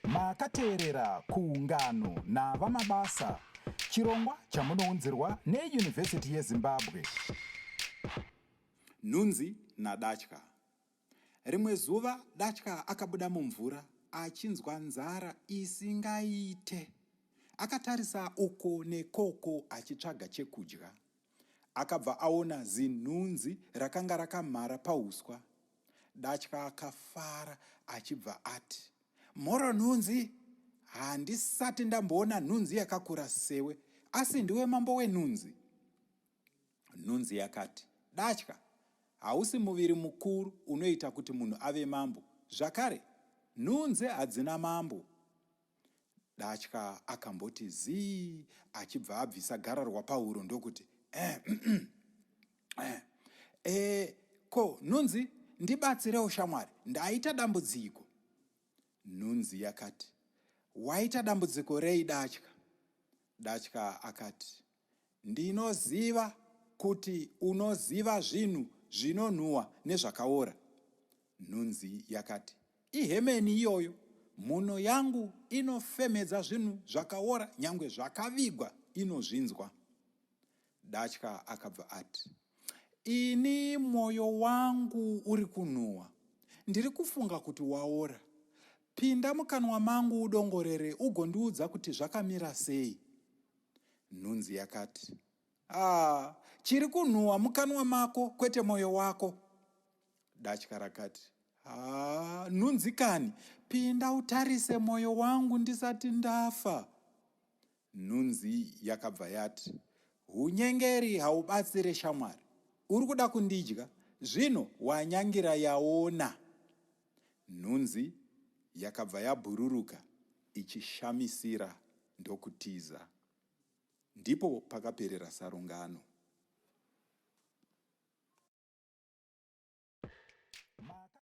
Makateerera kuungano naVaMabasa, chirongwa chamunounzirwa neYunivhesiti yeZimbabwe. Nhunzi naDatya. Rimwe zuva Datya akabuda mumvura achinzwa nzara isingaite. Akatarisa uko nekoko achitsvaga chekudya. Akabva aona zinhunzi rakanga rakamhara pauswa. Datya akafara achibva ati, Mhoro nhunzi! Handisati ndamboona nhunzi yakakura sewe, asi ndiwe mambo wenhunzi. Nhunzi yakati, Datya, hausi muviri mukuru unoita kuti munhu ave mambo. Zvakare, nhunzi hadzina mambo. Datya akamboti zii achibva abvisa gararwa pahuro ndokuti eh, mm, mm, eh, eh, ko nhunzi ndibatsirewo shamwari ndaita dambudziko nhunzi yakati waita dambudziko rei datya datya akati Ndinoziva kuti unoziva zvinhu zvinonhuhwa nezvakaora, nhunzi yakati. Ihemeni iyoyo. Mhuno yangu inofemhedza zvinhu zvakaora nyangwe zvakavigwa inozvinzwa. Datya akabva ati, Ini mwoyo wangu uri kunhuhwa. Ndiri kufunga kuti waora. Pinda mukanwa mangu udongorere ugondiudza kuti zvakamira sei. Nhunzi yakati, Ah, chiri kunhuwa mukanwa mako kwete moyo wako. Datya rakati, Ah, nhunzi kani, pinda utarise moyo wangu ndisati ndafa. Nhunzi yakabva yati, Hunyengeri haubatsire shamwari. Uri kuda kundidya? Zvino wanyangira yaona. Nhunzi yakabva yabhururuka ichishamisira ndokutiza. Ndipo pakaperera sarungano.